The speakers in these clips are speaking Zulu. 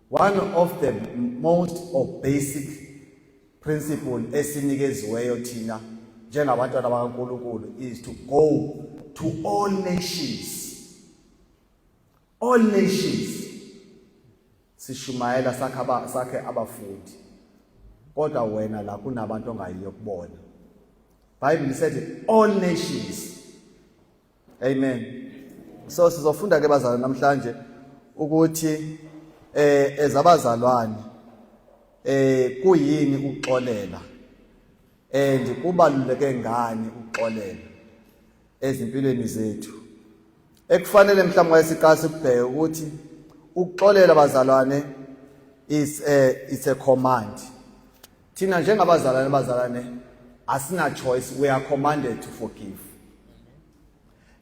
One of the most or basic principle esinikeziweyo thina njengabantwana bakaNkulunkulu is to go to all nations. All nations sishumayela sakhe aba sakhe abafundi kodwa wena la kunabantu ongayiyo kubona Bible said all nations Amen. So sizofunda ke bazalwane namhlanje ukuthi eh ezabazalwane eh kuyini ukuxolela and kubaluleke ngani ukuxolela ezimpilweni zethu ekufanele mhlawumbe wayesiqasa ukubheka ukuthi ukuxolela bazalwane is a it's a command Thina njengabazalwane bazalwane asina choice we are commanded to forgive.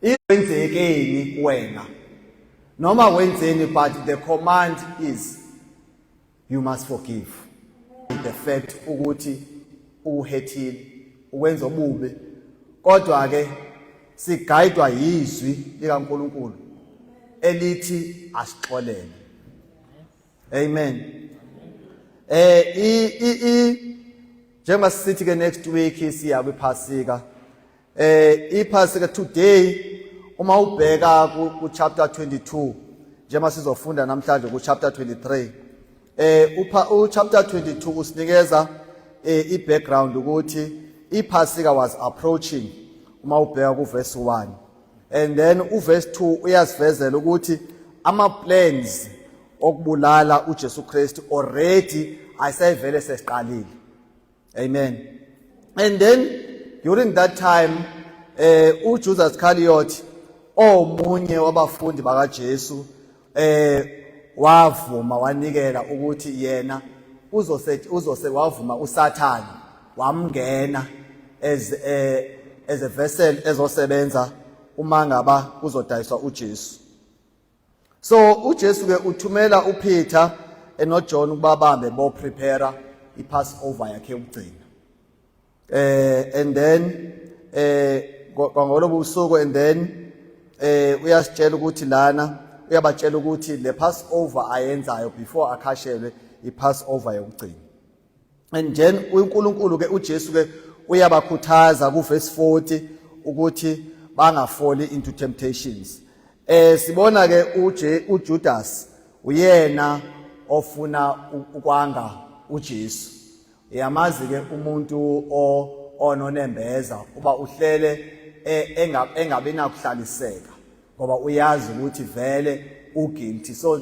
Iwenzekeni kuwena noma wenzeni but the command is you must forgive. The fact ukuthi uhethile ukwenza obubi kodwa ke sigayidwa yizwi likaNkuluNkulu elithi asixolele. Amen. Eh i i i njengoba sithi ke next week siya kwiphasika. Eh iphasika today uma ubheka ku chapter 22 njengoba sizofunda namhlanje ku chapter 23. Eh upha u chapter 22 usinikeza eh i background ukuthi iphasika was approaching uma ubheka ku verse 1. and then uverse 2 uyasivezela ukuthi ama plans okubulala uJesu Kristu already ayisevele sesiqalile amen and then during that time eh uJudas Iscariot omunye wabafundi bakaJesu eh wavuma wanikela ukuthi yena uzose uzose wavuma usathane wamngena as eh as a vessel ezosebenza uma ngaba kuzodayiswa uJesu so uJesu ke uthumela uPeter enoJohn ukuba bambe bo prepare iPassover yakhe yokugcina eh and then eh kwangolobo usuku and then eh uyasitshela ukuthi lana uyabatshela ukuthi le pass over ayenzayo before akhashelwe i pass over yokugcina and then uNkulunkulu ke uJesu ke uyabakhuthaza ku verse 40 ukuthi bangafoli into temptations eh sibona ke uJe uJudas uyena ofuna ukwanga uJesu Yamazi ke umuntu o ononembeza uba uhlele e, engabe nakuhlaliseka ngoba uyazi ukuthi vele uguilty so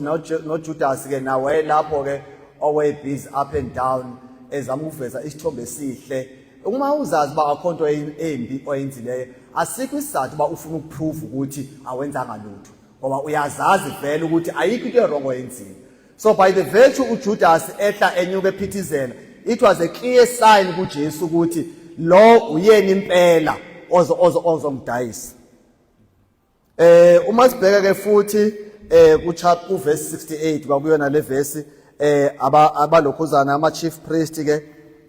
noJudas ke nawe lapho ke owe busy up and down ezama ukuveza isithombe esihle uma uzazi uba akho nto embi oyenzileyo asikho isizathu uba ufuna ukuphruva ukuthi awenzanga lutho ngoba uyazazi vele ukuthi ayikho into erongo oyenzile so by the virtue uJudas ehla enyuka ephithizela it was a clear sign kuJesu ukuthi lo uyena impela ozo ozo ozomdayisa eh uma sibheka ke futhi eh ku chapter ku verse 68 kwakuyona le verse eh abalokhuzana ama chief priest ke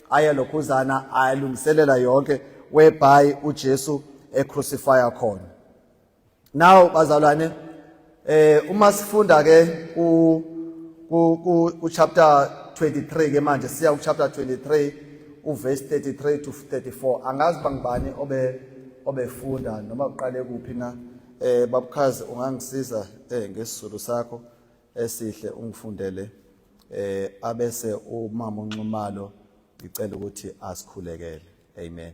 ayalokhuzana ayalungiselela yonke whereby uJesu e crucify khona Now bazalwane eh uma sifunda ke ku ku ku chapter 23 ke manje siya ku chapter 23 uverse 33 to 34 angazi bangibani obe obefunda noma uqale kuphi na eh babukhazi ungangisiza eh ngesizulu sakho esihle ungifundele eh abese umama unxumalo ngicela ukuthi asikhulekele amen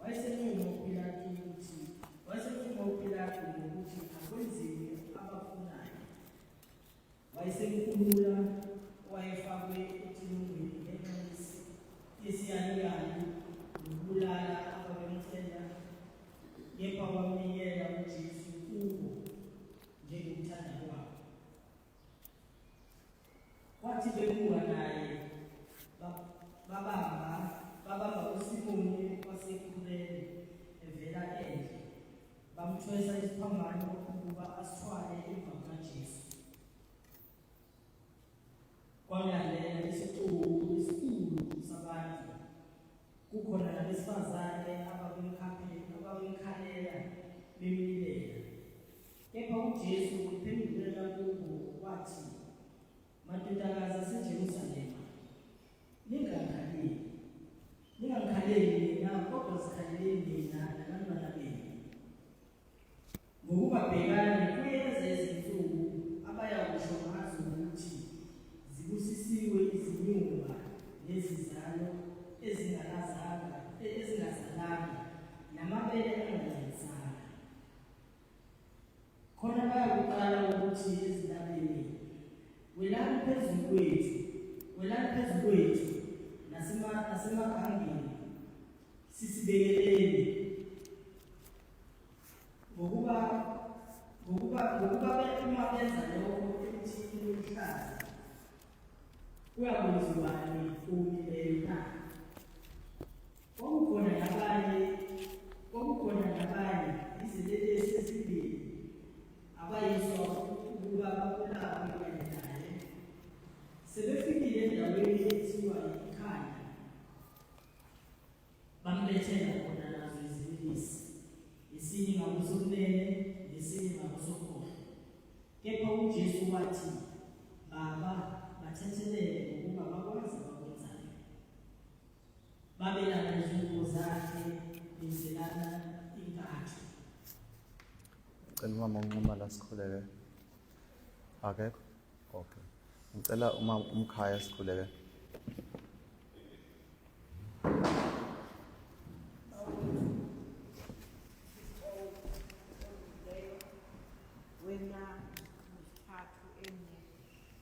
Wayesenquma uPilatu ukuthi wayesenquma uPilatu ngokuthi akwenziwe abafunayo. Wayesenkulula wayefakwe ethunungweni ngenxa yesiyaluyalu nokubulala ababemcela kepha wamnikela uJesu kubo njengokuthanda kwabo. Wathi bebuka naye babamba babamba uSimoni wasekhuleni evela endle bamthwesa isiphambano ukuba asithwale emva kukaJesu. Kwalalela isixuku esikhulu sabantu kukhona nabesifazane abakumkhaphela abakumkhalela bemlilela Kepha uJesu uphendulela kubo wathi, Madodakazi aseJerusalema, ningangikhaleli. Ningangikhaleli mina, kodwa zikhaleleni mina nabantwana benu. Ngokuba bhekani, kuyeza izinsuku abaya kusho ngazo ukuthi zibusisiwe izinyumba nezizalo ezingakazanga, ezingazalanga, namabele angancedisanga. khona bayakuqala ukuthi ezintabeni welani phezulu kwethu welani phezulu kwethu nasemagangeni sisibekeleni ngokuba ngokuba ngokuba uma benza lokho ekuthi iluhlaza kuyakwenziwani kumi leyo na Kwakukhona nabanye kwakukhona nabanye izinelesi ezimbili abayiswa ukuba bakulaphe kanye naye. Sebefikile endaweni ethiwa yikhaya bambethela khona nazo izinelesi esinye ngakusokunene nesinye ngakusokhohlo. Kepha uJesu wathi, Baba, bathethelele ngokuba bakwazi babelana izingubo zakhe benzelana inkatho cela umama unquma la sikhuleke akekho okay ngicela uma umkhaya sikhuleke wena mthathu emnye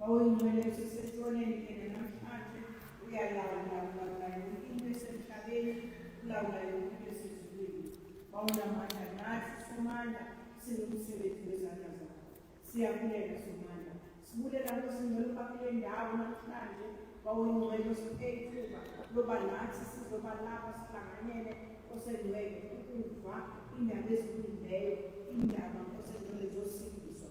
Wawuyingcwele usesethoneni yena namhlanje uyalawula ulawula yonke into esemhlabeni ulawula yonke into esezulwini wawunamandla nathi somandla singumsebenzi wezandla zakho siyabulela somandla sibulela nosingcwele uba kule ndawo namhlanje wawuyingcwele usiphe ithuba loba nathi sizoba lapha sihlanganyele osengcwele ukuva indaba ezilungileyo indaba osengcwele zosindiswa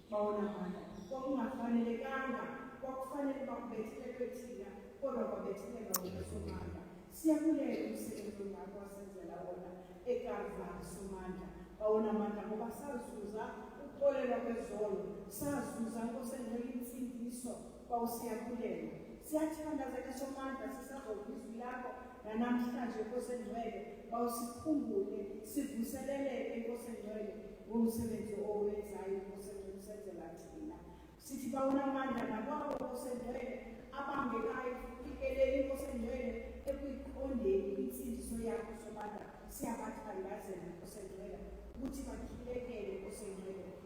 Bawonakala, kwakungafanelekanga, kwakufanele bakubethelelwe thina, kodwa kwabethelelwa wena Somandla. Siyakulela umsebenzi ongaka wasenzela wona eKalvari Somandla. Bawonamandla ngoba sazuza ukuxolelwa kwezono, sazuza Nkosi engcwele insindiso, Kwawusiyakhulelwa. Siyathandazeka somandla sisazokwa izwi lakho nanamhlanje Nkosi engcwele bawusikhumbule sivuseleleke Nkosi engcwele ngomsebenzi owenzayo Nkosi engcwele usenzela thina sithi bawunamandla nakwabo Nkosi engcwele abangekayo ikelele Nkosi engcwele ekuyiqondeni insindiso yakho somandla siyabathandazela Nkosi engcwele ukuthi bakhilekele Nkosi engcwele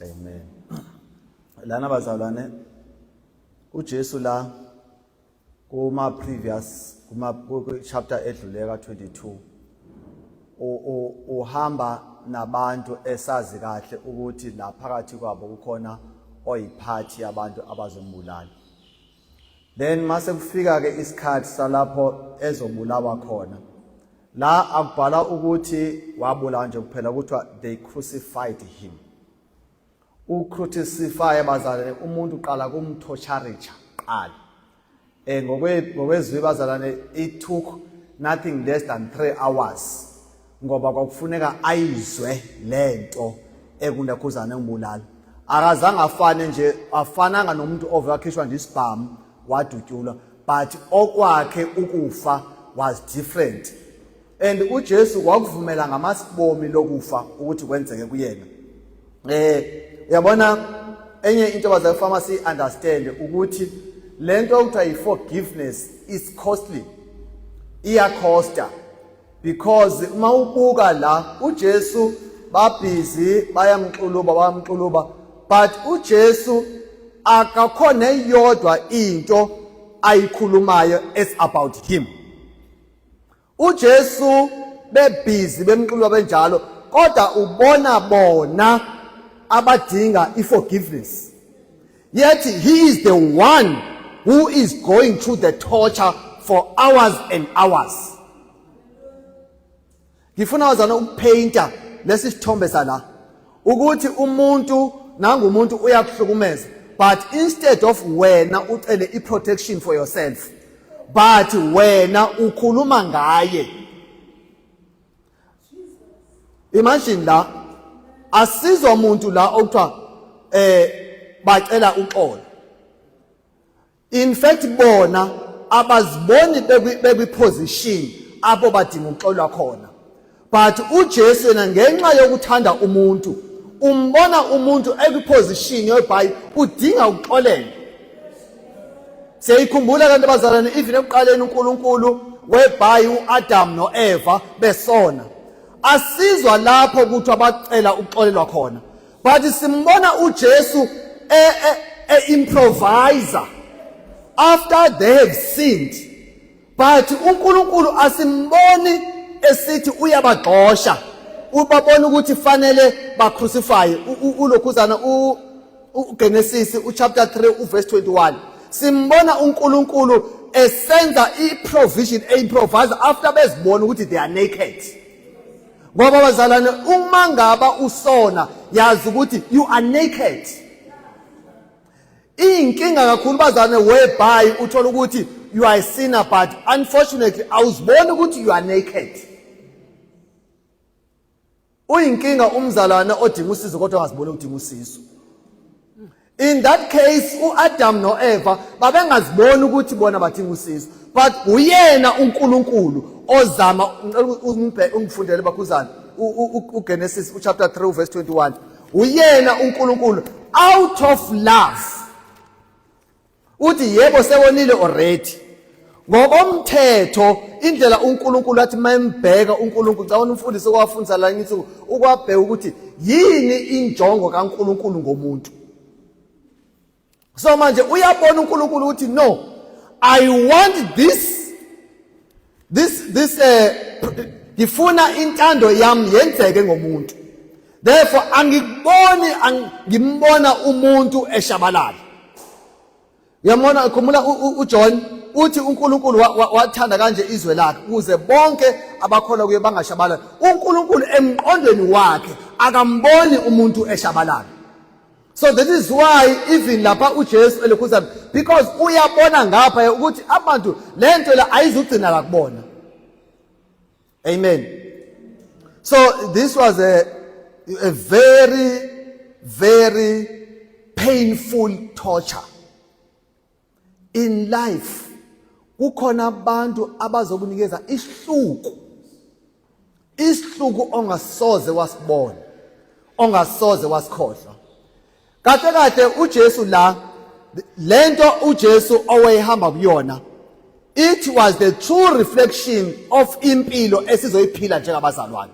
Amen. Lana bazalwane uJesu la kuma previous kuma chapter edlule ka 22 uhamba nabantu esazi kahle ukuthi la phakathi kwabo kukhona oyiphathi yabantu abazombulala then mase kufika ke isikhathi salapho ezobulawa khona la akubhala ukuthi wabulawa nje kuphela kuthiwa they crucified him ucrucify bazalwane umuntu uqala kumthocharicha qala eh ngokwezwi bazalwane it took nothing less than 3 hours ngoba kwakufuneka ayizwe le nto ekundakhuzane ngibulala akazange afane nje afananga nomuntu ove wakhishwa nje isibhamu wadutyulwa but okwakhe ukufa was different and uJesu wakuvumela ngamasibomi lokufa ukuthi kwenzeke kuyena eh uyabona enye into abaze pharmacy understand ukuthi lento okuthiwa i forgiveness is costly iya costa because uma ubuka la uJesu babhizi bayamxuluba bayamxuluba but uJesu akakho neyodwa into ayikhulumayo as about him uJesu bebhizi bemxuluba benjalo kodwa ubona bona abadinga iforgiveness Yet he is the one who is going through the torture for hours and hours. Ngifuna wazana ukupainta lesi sithombe sala ukuthi umuntu nangu umuntu uyakuhlukumeza but instead of wena ucele i protection for yourself but wena ukhuluma ngaye imagine la asizwa muntu la okuthiwa eh bacela uxolo in fact bona abaziboni bekwi position apho badinga ukuxolwa khona but uJesu yena ngenxa yokuthanda umuntu umbona umuntu ekwiposition yokuba udinga ukuxolela siyayikhumbula kanti abazalwane even ekuqaleni uNkulunkulu webhayi uAdam noEva besona asizwa lapho ukuthi abacela ukuxolelwa khona but simbona uJesu e, e, e improviser after they have sinned but uNkulunkulu asimboni esithi uyabagxosha ubabona ukuthi fanele bacrucify ulokhuzana uGenesis uchapter 3 uverse 21 simbona uNkulunkulu esenza iprovision eyimprovise after bezibona ukuthi they are naked ngoba bazalwane uma ngaba usona yazi ukuthi you are naked iyinkinga kakhulu bazane whereby uthola ukuthi you are a sinner but unfortunately awuziboni ukuthi you are naked uyinkinga umzalwana odinga usizo kodwa ungaziboni udinga usizo in that case uAdam noEva babengaziboni ukuthi bona badinga usizo but uyena uNkulunkulu ozama ungifundele bakhuzana uGenesis uchapter 3 verse 21 uyena uNkulunkulu out of love uthi yebo sewonile already ngokomthetho indlela uNkulunkulu athi mayembheka uNkulunkulu cabona umfundisi okwafundisa la ngithi ukwabheka ukuthi yini injongo kaNkulunkulu ngomuntu so manje uyabona uNkulunkulu uthi no i want this this this eh ngifuna intando yami yenzeke ngomuntu therefore angikuboni ngimbona umuntu eshabalala yamona khumula uJohn uthi uNkulunkulu wathanda kanje izwe lakhe ukuze bonke abakholwa kuye bangashabalala uNkulunkulu emqondweni wakhe akamboni umuntu eshabalala so that is why even lapha uJesu elikhuza because uyabona ngapha ukuthi abantu lento la ayizugcina la kubona amen so this was a a very very painful torture in life kukhona abantu abazokunikeza isihluku isihluku ongasoze wasibona ongasoze wasikhohlwa kahle kahle uJesu la lento uJesu owayehamba kuyona it was the true reflection of impilo esizoyiphila njengabazalwane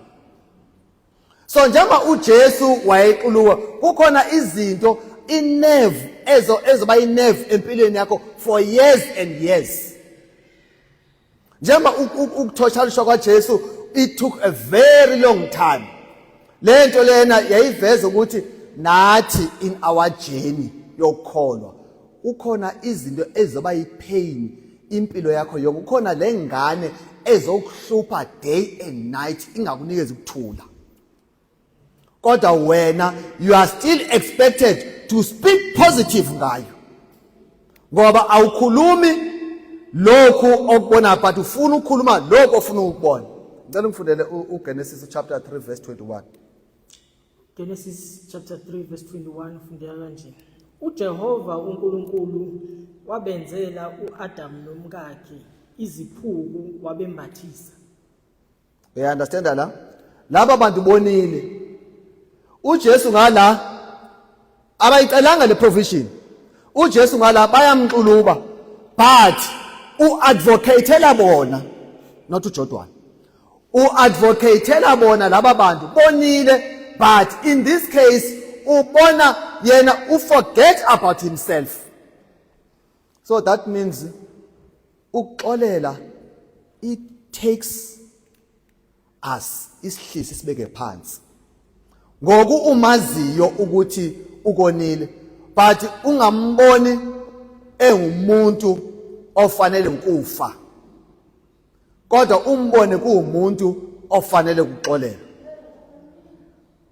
so njengoba uJesu wayequluka kukhona izinto inerve ezo ezoba inerve empilweni yakho for years and years njengoba ukuthoshalishwa kwaJesu it took a very long time lento lena yayiveza ukuthi nathi in our journey yokukholwa kukhona izinto ezoba yipain impilo yakho yonke kukhona le ngane ezokuhlupha day and night ingakunikezi ukuthula kodwa wena you are still expected to speak positive ngayo ngoba awukhulumi lokhu okubona but ufuna ukukhuluma lokhu ofuna ukubona ngicela ngifundele uGenesis chapter 3 verse 21 Genesis chapter 3 verse 21 fundeka kanje. UJehova uNkulunkulu wabenzela uAdam nomkakhe iziphuku wabembathisa. Uya understand la? Laba bantu bonile. UJesu ngala abayicelanga le provision uJesu ngala bayamxuluba but uadvocatela bona not uJodwana uadvocatela bona laba bantu bonile but in this case ubona yena uforget about himself so that means ukuxolela it takes as isihlisi sibeke phansi ngoku umaziyo ukuthi ukonile but ungamboni engumuntu ofanele ukufa kodwa umbone kuwumuntu ofanele ukuxolelwa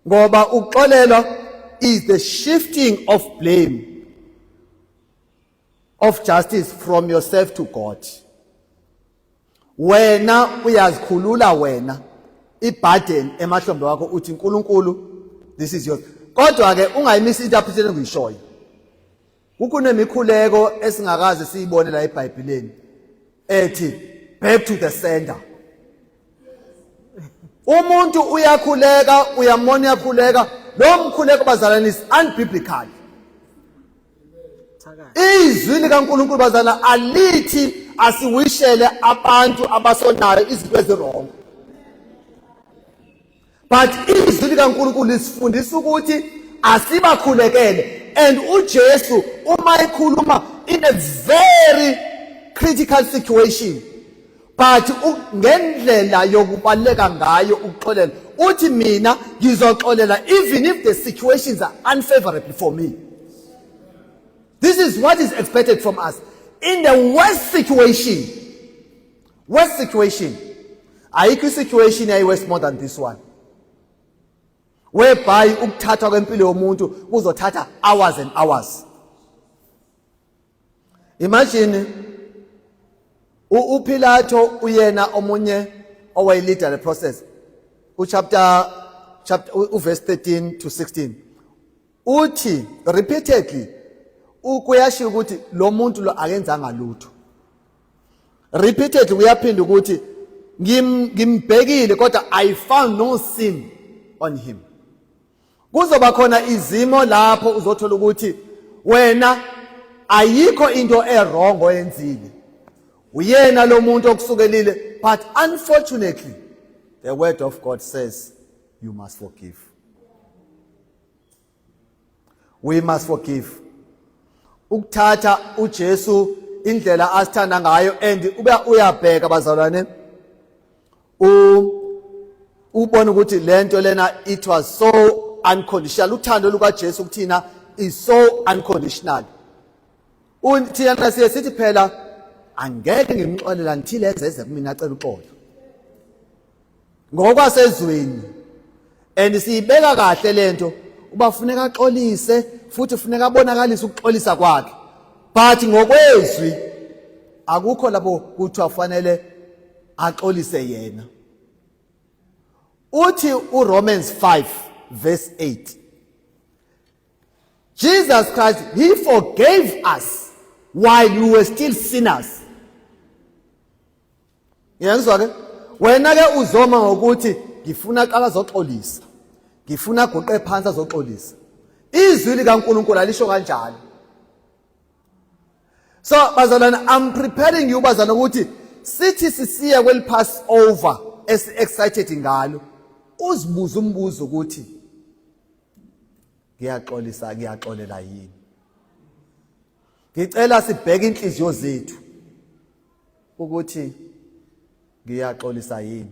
ngoba ukuxolelwa is the shifting of blame of justice from yourself to God wena uyazikhulula wena iburden emahlombe wakho uthi uNkulunkulu this is yours kodwa ke ungayimisi interpretation engiyishoyo kukunemikhuleko esingakaze siyibone la eBhayibhelini ethi back to the sender umuntu uyakhuleka uyamona uyakhuleka lo mkhuleko bazalana is unbiblical izwi likaNkulunkulu bazalana alithi asiwishele abantu abasonayo izinto ezirongo but izwi likaNkulunkulu lisifundisa ukuthi asibakhulekele and uJesu uma ekhuluma in a very critical situation but ngendlela yokubaleka ngayo ukuxolela uthi mina ngizoxolela even if the situations are unfavorable for me this is what is expected from us in the worst situation Worst situation. Ayikho isituation yayi worse more than this one. Whereby ukuthathwa kwempilo yomuntu kuzothatha hours and hours. Imagine uPilato uyena omunye owayeleader the process. Uchapter chapter uverse 13 to 16. Uthi repeatedly ukuyashiya ukuthi lo muntu lo akenzanga lutho. repeatedly uyaphinda ukuthi ngimbhekile kodwa i found no sin on him kuzoba khona izimo lapho uzothola ukuthi wena ayikho into erong oyenzile uyena lo muntu okusukelile but unfortunately the word of god says you must forgive we must forgive ukuthatha uJesu indlela asithanda ngayo and ube uyabheka bazalwane u ubona ukuthi lento lena it was so unconditional uthando lukaJesu kuthina is so unconditional uthina siye sithi phela angeke ngimxolela ngithile ezeze kumina acela uxolo ngokwasezweni and siyibeka kahle lento uba funeka axolise futhi funeka abonakalise ukuxolisa kwakhe but ngokwezwi akukho labo kuthi afanele axolise yena uthi uRomans 5 verse 8 Jesus Christ he forgave us while we were still sinners ngiyangizwa ke wena ke uzoma ngokuthi ngifuna qala zoxolisa ngifuna aguqe phansi azoxolisa izwi likaNkulunkulu alisho kanjalo so bazalwana i'm preparing you bazana ukuthi sithi sisiya kweli pass over esi excited ngalo uzibuza umbuzo ukuthi ngiyaxolisa ngiyaxolela yini ngicela sibheke inhliziyo zethu ukuthi ngiyaxolisa yini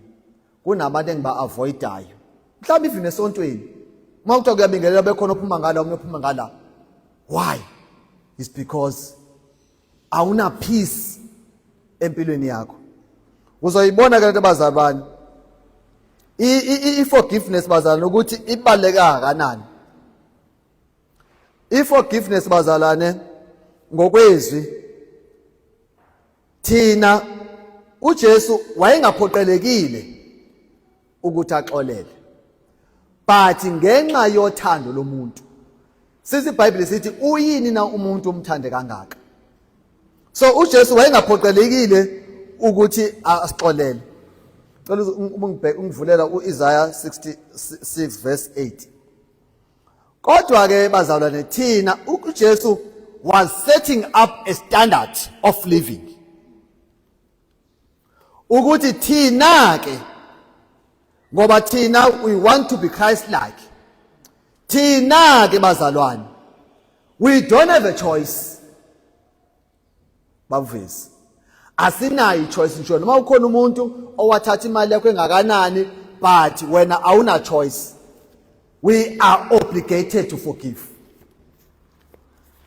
kunabantu engiba-avoidayo mhlawumbe even esontweni uma kuthiwa kuyabingelela bekhona ophuma ngala omunye ophuma ngala why is because awuna-peace empilweni yakho uzoyibona ke lento bazali bani i-forgiveness bazalwane ukuthi ibaluleke kangakanani iforgiveness bazalane ngokwezwi thina uJesu wayengaphoqelekile ukuthi axolele but ngenxa yothando lomuntu sithi iBhayibheli sithi uyini na umuntu umthande kangaka so uJesu wayengaphoqelekile ukuthi asixolele cela ungibheke ungivulela uIsaiah 66 verse 8 Kodwa-ke bazalwane thina uJesu was setting up a standard of living. Ukuthi thina ke ngoba thina we want to be Christ like. Thina ke bazalwane we don't have a choice. bavezi asinayo ichoice nje noma ukhona umuntu owathatha imali yakho engakanani but wena awuna choice we are obligated to forgive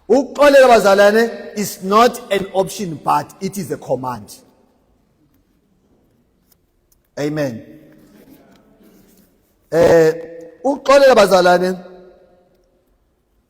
ukuxolela bazalwane is not an option but it is a command amen eh ukuxolela bazalwane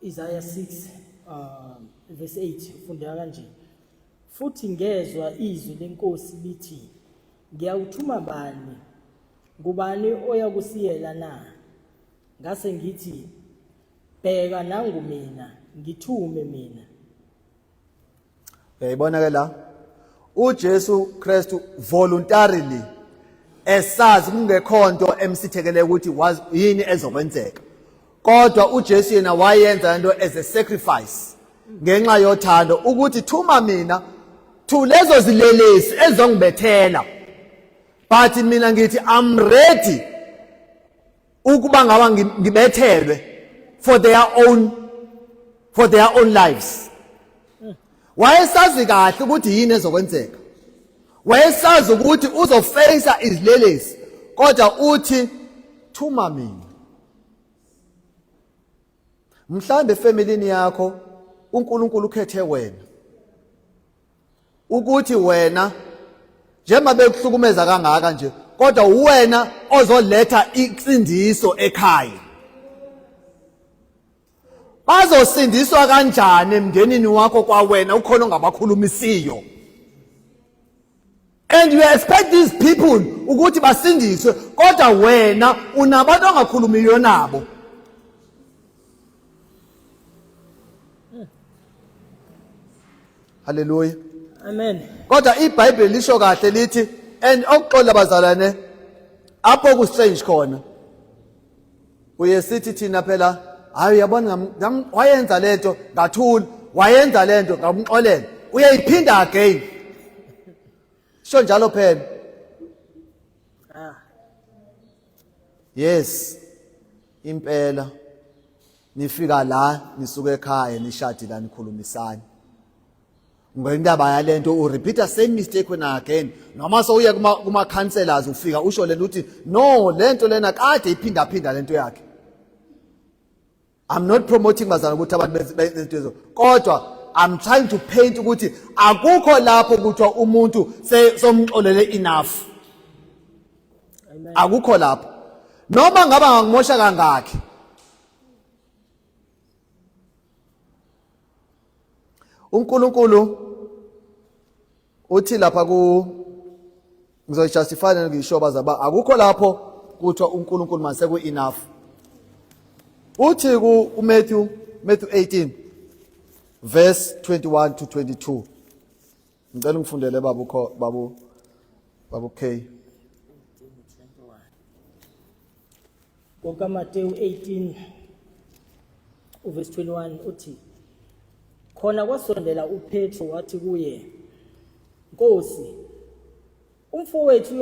Isaya 6 uh, verse 8 ufundeka kanje futhi ngezwa izwi lenkosi lithi ngiyawuthuma bani ngubani oyakusiyela na ngase ngithi bheka nangu mina ngithume mina uyayibona ke la uJesu Kristu voluntarily esazi kungekho nto emsithekele ukuthi yini ezokwenzeka kodwa uJesu yena wayenza into as a sacrifice ngenxa yothando ukuthi thuma mina to lezo zilelesi ezongibethela but mina ngithi i'm ready ukuba ngaba ngibethelwe for their own for their own lives wayesazi kahle ukuthi yini ezokwenzeka wayesazi ukuthi uzofeyisa izilelesi kodwa uthi thuma mina mhlawumbe efamilini yakho uNkulunkulu ukhethe wena ukuthi wena njengoba bekuhlukumeza kangaka nje kodwa uwena ozoletha insindiso ekhaya bazosindiswa kanjani emndenini wakho kwawena ukhona ongabakhulumisiyo and you expect these people ukuthi basindiswe kodwa wena unabantu ongakhulumiyo nabo haleluya amen kodwa ibhayibheli lisho kahle lithi and okuxola bazalwane apho ku strange khona uye sithi thina phela hayi uyabona wayenza lento ngathula wayenza lento ngamxolela uyayiphinda again sho njalo phela ah. yes impela nifika la nisuke ekhaya nishadile nikhulumisani Ngoyindaba yalento u repeat the same mistake when again. Noma sowuye kuma kuma counselors ufika usho lento uthi no lento lena kade iphinda phinda lento yakhe. I'm not promoting bazana ukuthi abantu benzezo kodwa I'm trying to paint ukuthi akukho lapho kuthiwa umuntu somxolele enough. Akukho lapho. Noma ngaba ngimosha kangakhi uNkulunkulu uthi lapha ku ngizoyijustify ngisho bazaba akukho lapho kuthiwa uNkulunkulu mase ku enough uthi ku uMatthew Matthew 18 verse 21 to 22 ngicela ungifundele babu kho babu babu K kokaMateyu 18 uverse 21 uthi khona kwasondela uPetro wathi kuye Nkosi umfowethu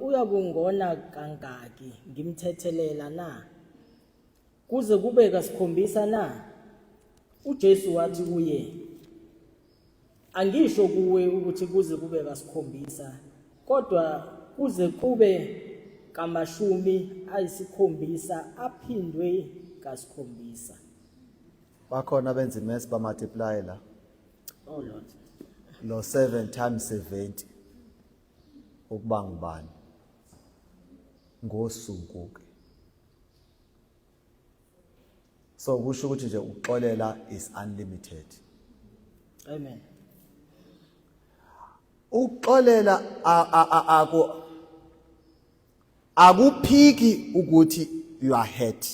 uyakungona kangaki ngimthethelela na Kuze kube kasikhombisa na? UJesu wathi kuye, Angisho kuwe ukuthi kuze kube kasikhombisa, kodwa kuze kube kamashumi ayisikhombisa aphindwe kasikhombisa. Bakhona benza imesi ba multiply la. Oh Lord. Lo 7 times 70 ukuba ngubani? Ngosuku ke. so kusho ukuthi nje ukuxolela is unlimited amen ukuxolela aku akuphiki ukuthi you are hurt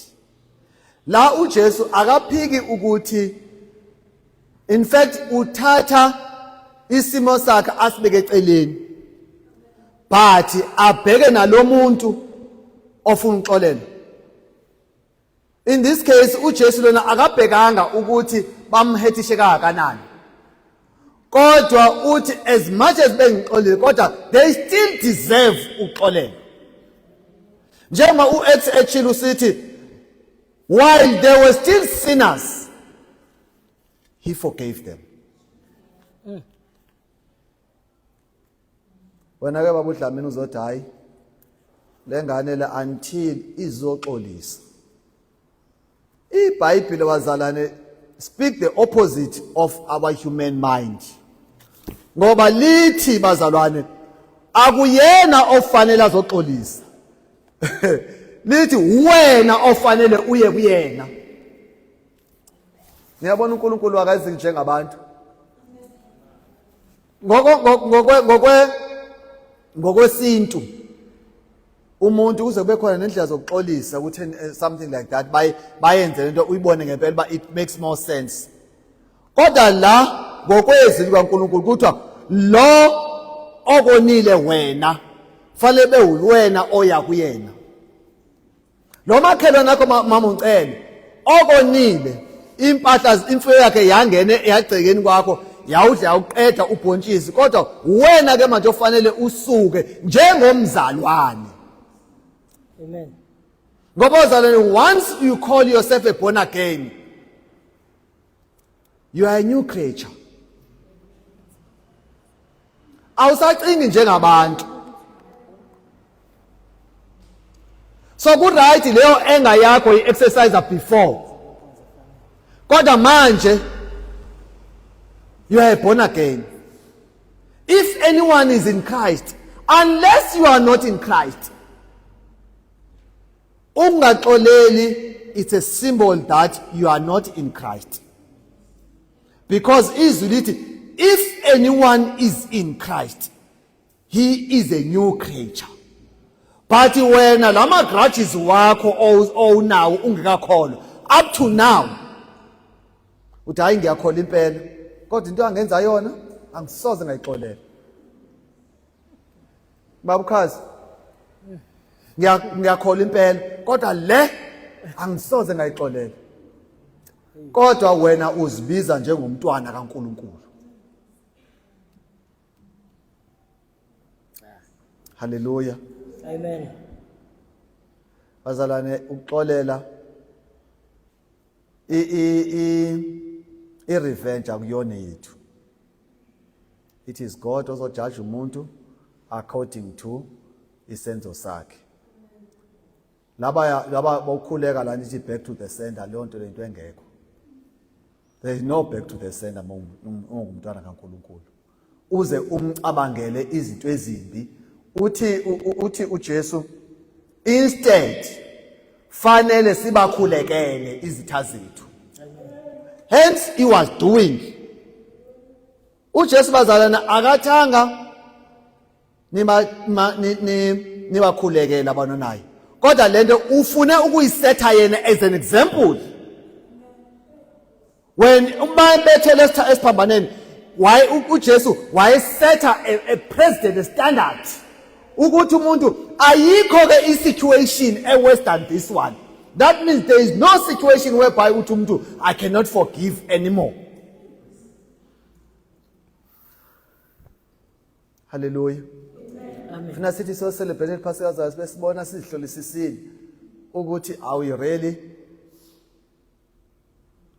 la uJesu akaphiki ukuthi in fact uthatha isimo sakhe asibeke eceleni but abheke nalomuntu ofuna uxolela in this case uJesu lona akabhekanga ukuthi bamhethishe kangakanani kodwa uthi as much as bengixolile kodwa they still deserve uxolelo njengoba uX echilo sithi while they were still sinners He forgave them. Mm. Wena ke babu Dlamini uzothi hayi lengane le until izoxolisa. IBhayibheli wazalane speak the opposite of our human mind. Ngoba lithi bazalwane akuyena ofanele azoxolisa. Lithi wena ofanele uye kuyena. niyabona unkulunkulu akazi njengabantu ngokwesintu umuntu kuze kube khona nendlela zokuxolisa ukuthi eh, something like that bayenze lento uyibone ngempela uba it makes more sense kodwa la ngokwezwi likankulunkulu kuthiwa lo okonile wena fanele bewuwena oya kuyena lo makhelwane akho mama uncele okonile impahla imfuyo yakhe yangene yagcekeni kwakho yawudla yawuqeda ubhontshisi kodwa wena ke manje ofanele usuke njengomzalwane amen ngoba ozalwane once you call yourself a born again you are a new creature awusacingi njengabantu so ku right leyo enga yakho i exercise before kodwa manje you are born again if anyone is in Christ unless you are not in Christ Ungaxoleli it's a symbol that you are not in Christ. Because izwi lithi if anyone is in Christ he is a new creature. But wena lama grudges wakho owunawo ungekakholwa up to now uthi hayi ngiyakhola impela kodwa into angenza yona angisoze ngayixolela Babukhazi. Ngiyakhola impela kodwa le angisoze ngayixolela. Kodwa wena uzibiza njengomntwana kaNkuluNkulu. Hallelujah. Amen. Bazalwane ukuxolela i i i revenge akuyona yethu. It is God ozojaja umuntu according to isenzo sakhe. Laba laba bokhuleka la nithi back to the sender leyo nto lento engekho. There is no back to the sender ungumntwana kaNkuluNkulu. Uze umcabangele izinto ezimbi. Uthi uthi uJesu instead fanele sibakhulekele izitha zethu. Hence he was doing uJesu bazalana akathanga nibakhulekela abantu naye kodwa lento ufune ukuyisetha yena as an example when uma bethele esiphambaneni waye uJesu wayesetha a president standard ukuthi umuntu ayikho ke i-situation e-worse than this one that means there is no situation whereby uthi umuntu i cannot forgive anymore haleluya funa sithi so celebrate iphasika zayo sibe sibona sizihlolisisile ukuthi are we really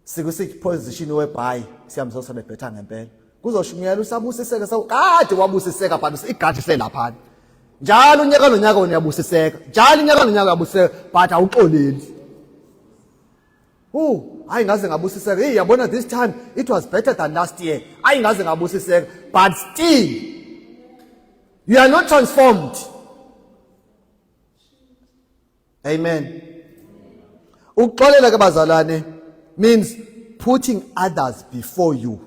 sikusiphi position webhayi siyamzo sebebhetha ngempela kuzoshumayela usabusiseka sawu kade wabusiseka phansi igadi selapha njalo unyaka nonyaka wena uyabusiseka njalo unyaka nonyaka uyabusiseka but awuxoleli Ooh, hayi ngaze ngabusiseka. Hey, yabona this time it was better than last year. Hayi ngaze ngabusiseka. But still you are not transformed. Amen. Ukuxolela ke bazalwane means putting others before you.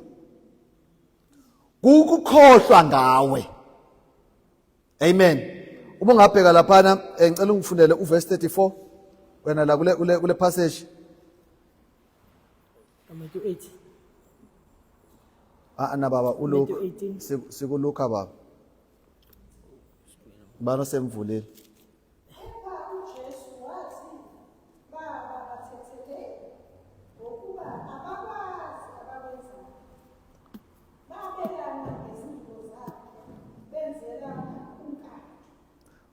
Kukukhohlwa ngawe. Amen. Uma ungabheka laphana eh, ngicela ungifundele uverse 34 wena la kule kule, kule passage. Matthew 8. Ah na baba uLuke sikuluka baba. Bano semvulile.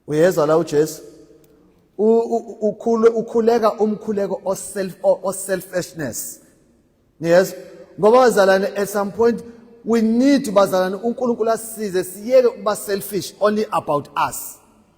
uyezwa la uJesu ukhule ukhuleka umkhuleko oself oselfishness niyezwa ngoba bazalane at some point we need bazalane uNkulunkulu asize siyeke ukuba selfish only about us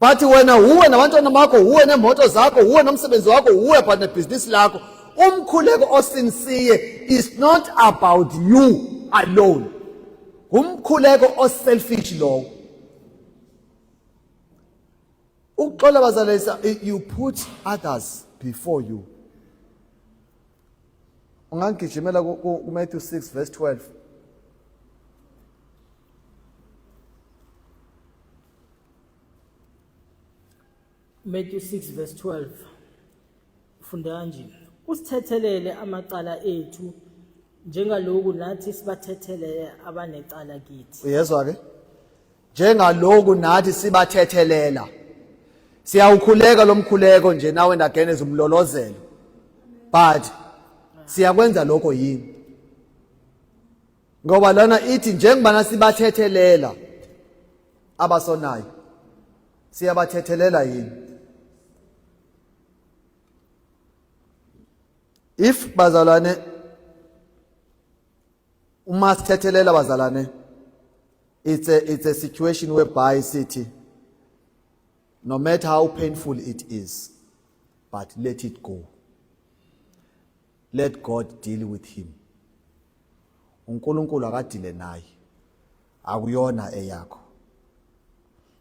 But wena wuwe nabantwana bakho wuwe nemoto zakho wuwe nomsebenzi wakho wuwe but nebhizinisi lakho umkhuleko osinsiye is not about you alone ngumkhuleko oselfish lowo ukuxola bazalisa you put others before you ungangigijimela kuMatthew 6 verse 12 Matthew 6 verse 12 funda kanje usithethelele amacala ethu njengaloku nathi sibathethelele abanecala kithi uyezwa ke njengaloku nathi sibathethelela siyawukhuleka lomkhuleko nje nawe ndageneza umlolozelo but siyakwenza lokho yini ngoba lona ithi njengoba nasibathethelela abasonayo siyabathethelela yini if bazalwane uma sithethelela bazalwane it's a, it's a situation whereby sithi no matter how painful it is but let it go Let God deal with him. UNkulunkulu akadile naye. Akuyona eyakho.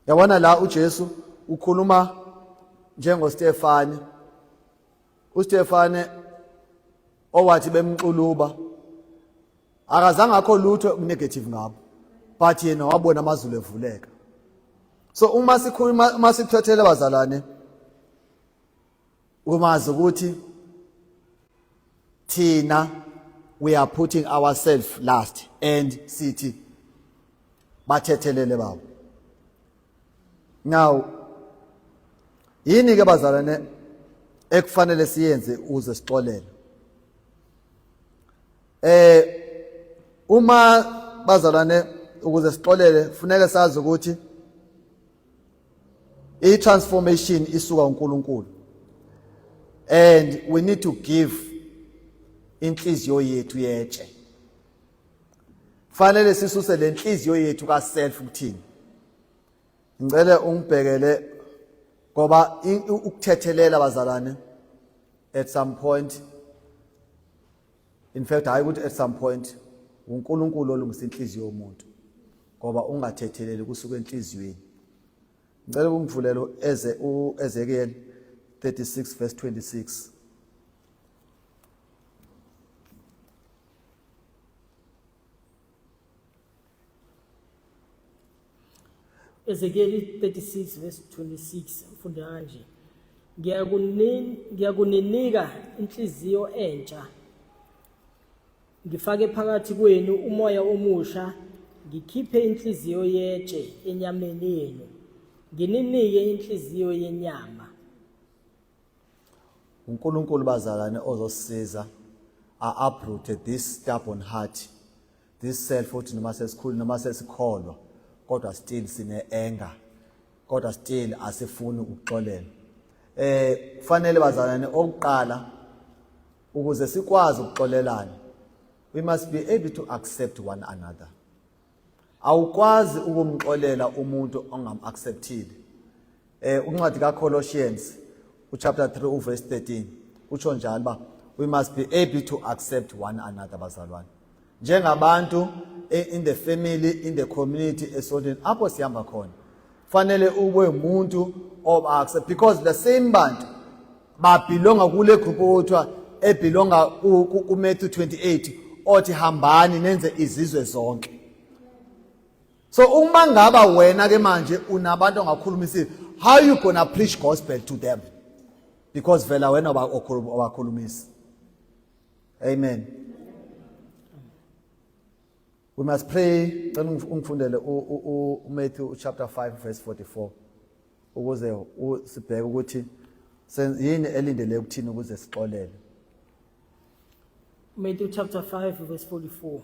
Yabona la uJesu ukhuluma njengoStefane. UStefane owathi bemxuluba akazange akho lutho okunegative ngabo but yena wabona amazulu evuleka so uma sikhuluma uma sithothele bazalwane umazi ukuthi thina we are putting ourselves last and sithi bathethelele baba now yini ke bazalwane ekufanele siyenze uze sixolele eh uma bazalwane ukuze sixolele kufuneka sazi ukuthi I transformation isuka uNkulunkulu. And we need to give inhliziyo yethu yetshe. Fanele sisuse lenhliziyo yethu ka self kuthini. Ngicele ungibhekele ngoba ukuthethelela bazalwane at some point in fact hayi ukuthi at some point uNkulunkulu olungisa inhliziyo yomuntu ngoba ungathetheleli kusuka enhliziyweni ngicela ukungivulele eze uEzekiel 36 verse 26 Thank Ezekieli 36 verse 26 ufunde kanje ngiyakuninika inhliziyo entsha ngifake phakathi kwenu umoya omusha ngikhiphe inhliziyo yetshe enyameni yenu ngininike inhliziyo yenyama uNkulunkulu bazalane ozosiza a uprooted this stubborn heart This self uthi noma sesikhulu noma sesikholwa kodwa still sine anger kodwa still asifuni ukuxolela eh kufanele bazalwane okuqala ukuze sikwazi ukuxolelana we must be able to accept one another awukwazi ukumxolela umuntu ongamacceptile Eh uncwadi kaColossians uchapter 3 uverse 13 utsho njalo uba we must be able to accept one another bazalwane njengabantu eh, in the family in the community esontweni apho sihamba khona fanele ube umuntu oba-accept because the same bantu babhilonga kule group okuthiwa ebhilonga kumatthew 28 othi hambani nenze izizwe zonke so uma ngaba wena ke manje unabantu ongakhuluma isizwe how you gonna preach gospel to them because vela wena owakhulumisi amen we must pray cela ungifundele umatthew chapter 5 verse 44 ukuze sibheke ukuthi yini elindele ukuthini ukuze sixolele Matthew chapter 5 verse 44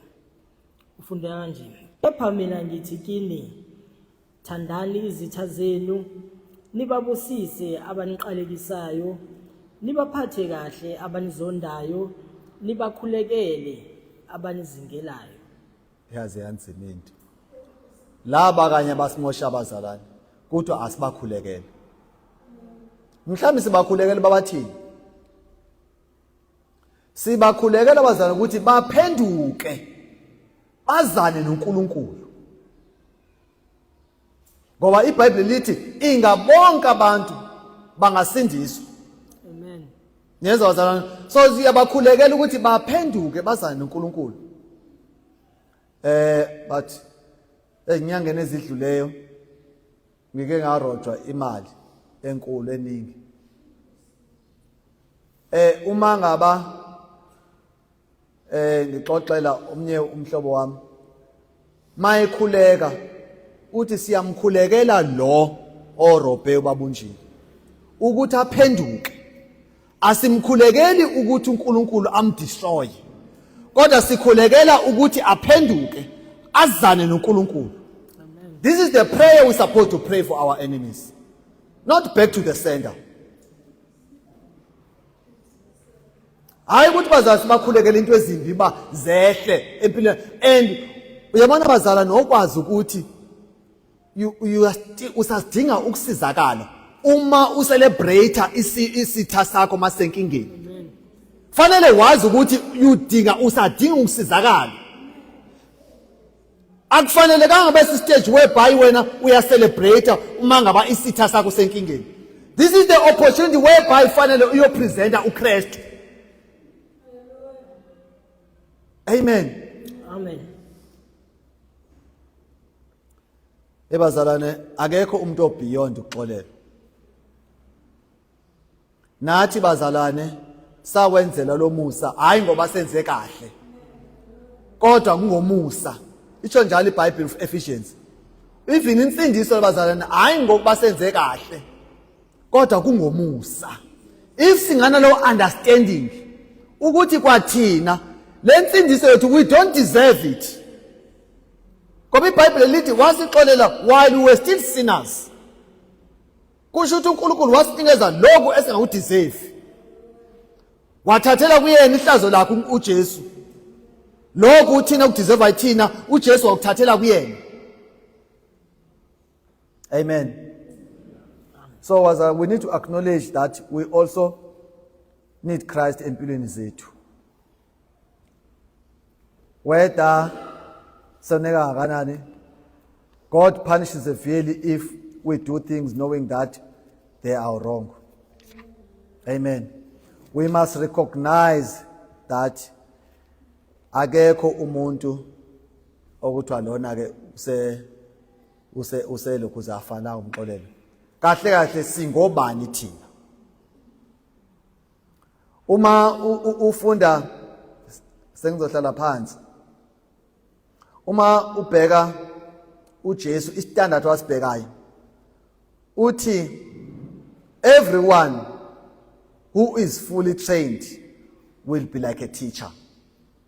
ufunda kanje kepha mina ngithi kini thandani izitha zenu nibabusise abaniqalekisayo nibaphathe kahle abanizondayo nibakhulekele abanizingelayo yaze yanzima into laba kanye basimosha abazalwane kodwa asibakhulekele mhlawumbe sibakhulekele babathini Sibakhulekela abazalwane ukuthi baphenduke bazane noNkulunkulu. Ngoba iBhayibheli lithi inga bonke abantu bangasindiswa. Amen. Niyeza bazalwane. So siyabakhulekela ukuthi baphenduke bazane noNkulunkulu. Eh but ezinyangeni ezidluleyo ngike ngarojwa imali enkulu eningi eh uma ngaba eh ngixoxela omnye umhlobo wami mayekhuleka uthi siyamkhulekela lo orobhe ubabunjini ukuthi aphenduke Asimkhulekeli ukuthi uNkulunkulu amdestroy. Kodwa sikhulekela ukuthi aphenduke azane noNkulunkulu. This is the prayer we supposed to pray for our enemies. Not back to the sender. hayi ukuthi bazali sibakhulekele into ezimbi uba zehle empilweni and uyabona bazala nokwazi ukuthi usasidinga ukusizakala uma ucelebrate isitha sakho masenkingeni fanele wazi ukuthi udinga usadinga ukusizakala akufanele kangabe sistage whereby wena uyacelebrate uma ngaba isitha sakho senkingeni this is the opportunity whereby fanele uyopresenta uKristu amen amen ebazalwane akekho umuntu obeyond ukuxolela nathi bazalwane sawenzela lomusa hayi ngoba senze kahle kodwa kungomusa isho njalo iBhayibheli Ephesians even insindiso labazalwane hayi ngokuba senze kahle kodwa kungomusa if singana lo understanding ukuthi kwathina lensindiso yethu we don't deserve it ngoba ibhayibhile lithi wasixolela while we were still sinners kusho ukuthi unkulunkulu wasinikeza lokhu esingakudizevi wathathela kuyena ihlazo lakhe ujesu lokhu uthina kudizeva yithina ujesu wakuthathela kuyena amen so was uh, we need to acknowledge that we also need christ empilweni zethu whether soneka kangakanani god punishes severely if we do things knowing that they are wrong amen we must recognize that akekho umuntu okuthiwa lona ke use use uselokhu uzafana umxolelo kahle kahle singobani thina uma ufunda sengizohlala phansi uma ubheka uJesu istandard wasibhekayo uthi everyone who is fully trained will be like a teacher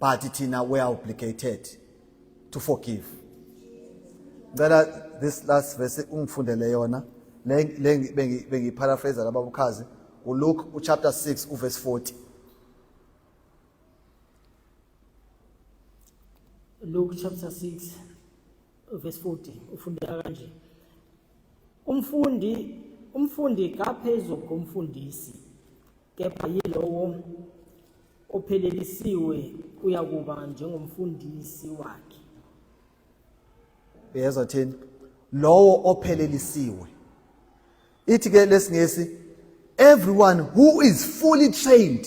but thina we are obligated to forgive ngicela this last verse ungifundele yona le bengiyiparaphrase laba bukhazi uLuke uchapter 6 uverse 40 Luke chapter 6 verse 40 ufundeka kanje Umfundi umfundi kaphezulu komfundisi kepha yilowo ophelelisiwe uyakuba njengomfundisi wakhe uyezwa thini lowo ophelelisiwe ithi ke lesingesi everyone who is fully trained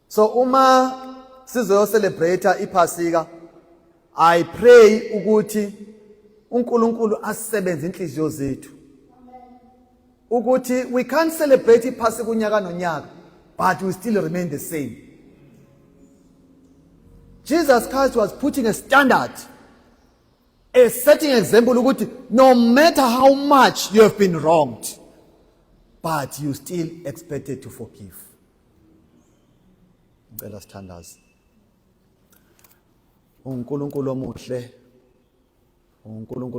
so uma sizoyo celebrate iphasika i pray ukuthi uNkulunkulu asebenze inhliziyo zethu ukuthi we can't celebrate iphasika unyaka nonyaka but we still remain the same Jesus Christ was putting a standard a setting example ukuthi no matter how much you have been wronged but you still expected to forgive ngicela sithandaze uNkulunkulu omuhle uNkulunkulu